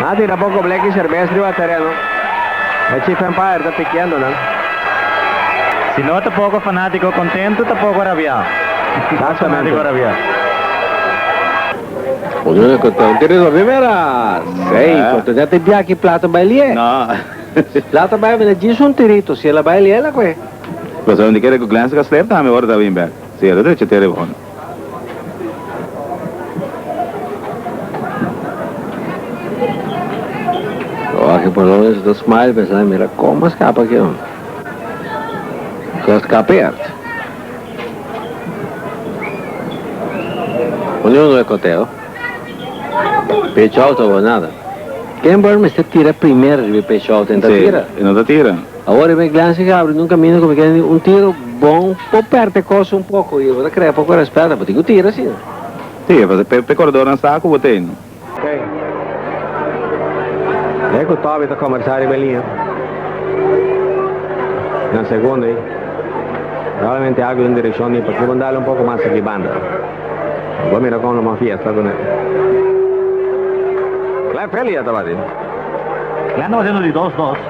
Na tira poco black y cerveza riba terreno. El chief empire ta piqueando nan. Si no ta poco fanatico contento ta poco rabia. Mas fanatico rabia. Uno na control tin ri Robin Meras. Ey, control tin ate biaki plata no bai lie. No. Si plata bai, mi na djis un tirito. Si el a bai lie, el a cohe. Lo sabem di kere cu Glenn Castlejo tambe ora ta win back. Señal ta drecha te ariba hondo. Jorge Polones a ta smile pensa na mira como a scapa aki hondo. Cu a scapa e art. Uni hondo e coteo. Pecho out awor nada. Ken Burn mester tira primer riba e pecho out en ta tira. Si, e no ta tira. Awor e Iglesia ke abri nun camino cu mi keda di un tiro bon po perte cos un poco y bo ta crea poco respeto, bo tin cu tira si no. Si, e pasa pe corredornan sa cu bo ta ey. Key e cu Toby ta conversa riba e liña na segundo ey. Probablemente algo den direccion di porque bon dale un poco mas aki banda. Bo mira con lo mas fiesta cu ne. Clef Elia tabati. Clef tabati no di dos dos.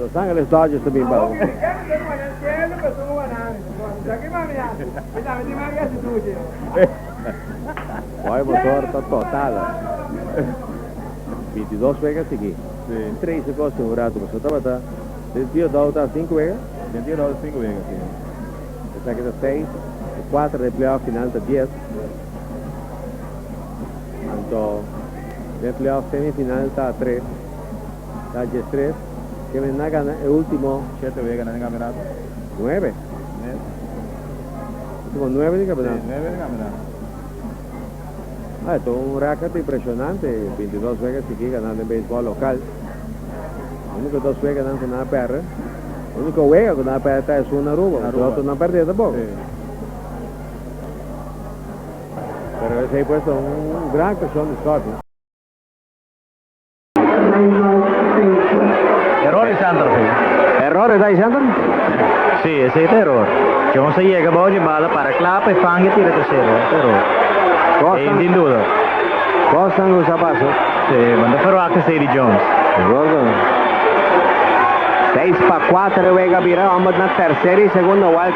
Los Angeles Dodgers ta bin pa un Wei Bosor ta total binti dos wega sigui tres a gosi un ratu Bosor tabata binti e dou ta sinku wega binti e dou ta sinku wega si esaki ta seis e kuater di e playoff final ta dies anto. Den playoff semifinal ta tres, ta djes tres, kende na gana e ultimo. Shete wega na den kampionato. Nuebe. Nuebe. Ultimo nuebe den kampionato. Si, nuebe den kampionato. Ah, e ta un record impresionante, bintidos wega sigui gana den beisbol lokal. Uniko dos weganan ku nan a pèrdè, uniko wega ku nan a pèrdè ta esun na Aruba, los otro nan pèrdeda bo. Si. Pero esei pues ta un gran kashon di sòrt. Eror di Sander si. Eror esei Sander? Si, esei ta eror. Jones a yega bou dje bala, para klapa i fang e tira trasero. Ta eror. Ei sin duda. Costa no sa pasa. Si, bo no ta ferwakta esei di Jones. Di akordo. Seis pa kuater e wega a bira, òmber na terser i segunda wòlta.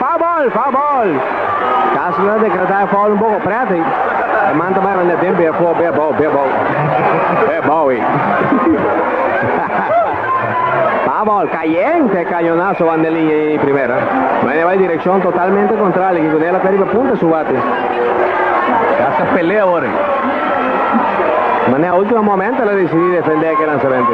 Fabol! Fabol! Kas na dekretá e fòl un poko prèt ei. E man ta bira na den b'e afó, b'e abou, b'e abou, b'e abou ei. Fabol! Kayente! Kañonaso wan den liña i primera. Maña bai direkshon totalmente kontrali a ki ku Nela ta riba punta su wate. Kas ta pelea awor ei. Maña a última momento el a desidí defendé e ke lansamentu.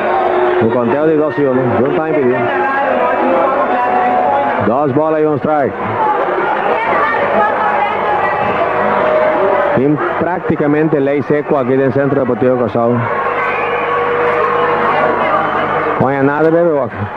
Bo kontel di dos yone. Jun time pidi. Dos bola y un strike. Tin prácticamente ley seco aquí den Centro Deportivo Kòrsou. Kon ya nada bebe wak.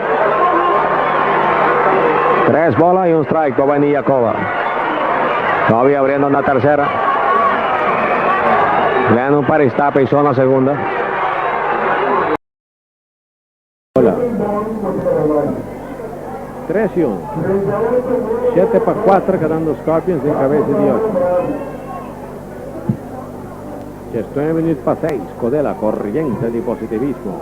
Tres bola y un strike pa Baini Yacoba. Todavía abriendo na tercera. Lennon Paris está pe zona segunda. Bola. Tres y un. Siete pa cuatro quedando Scorpions den cabeza di ocho. Diez nueve minuut pa seis. Codela corriente di positivismo.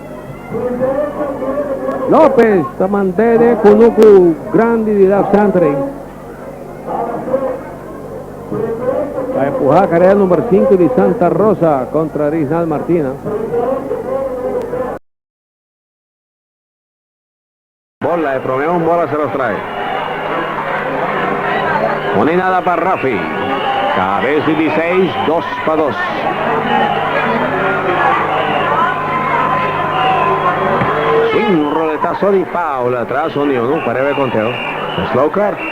Lopez ta mantene ku nuku grandi di Ralph Sandri. A empuha karera number 5 di Santa Rosa kontra Rijnal Martina. Bola e prome un bola sera strai. No ni nada pa Rafi. Cabes di Biseish dos pa dos. Swing roletaso di Paula tras Union pareba e konteo. Slow cart.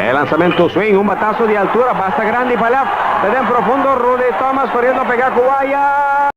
E lansamento swing, un bataso di altura basta grandi pa lèf. Ta den profundo, Rudy Thomas koriendo pega ku waya.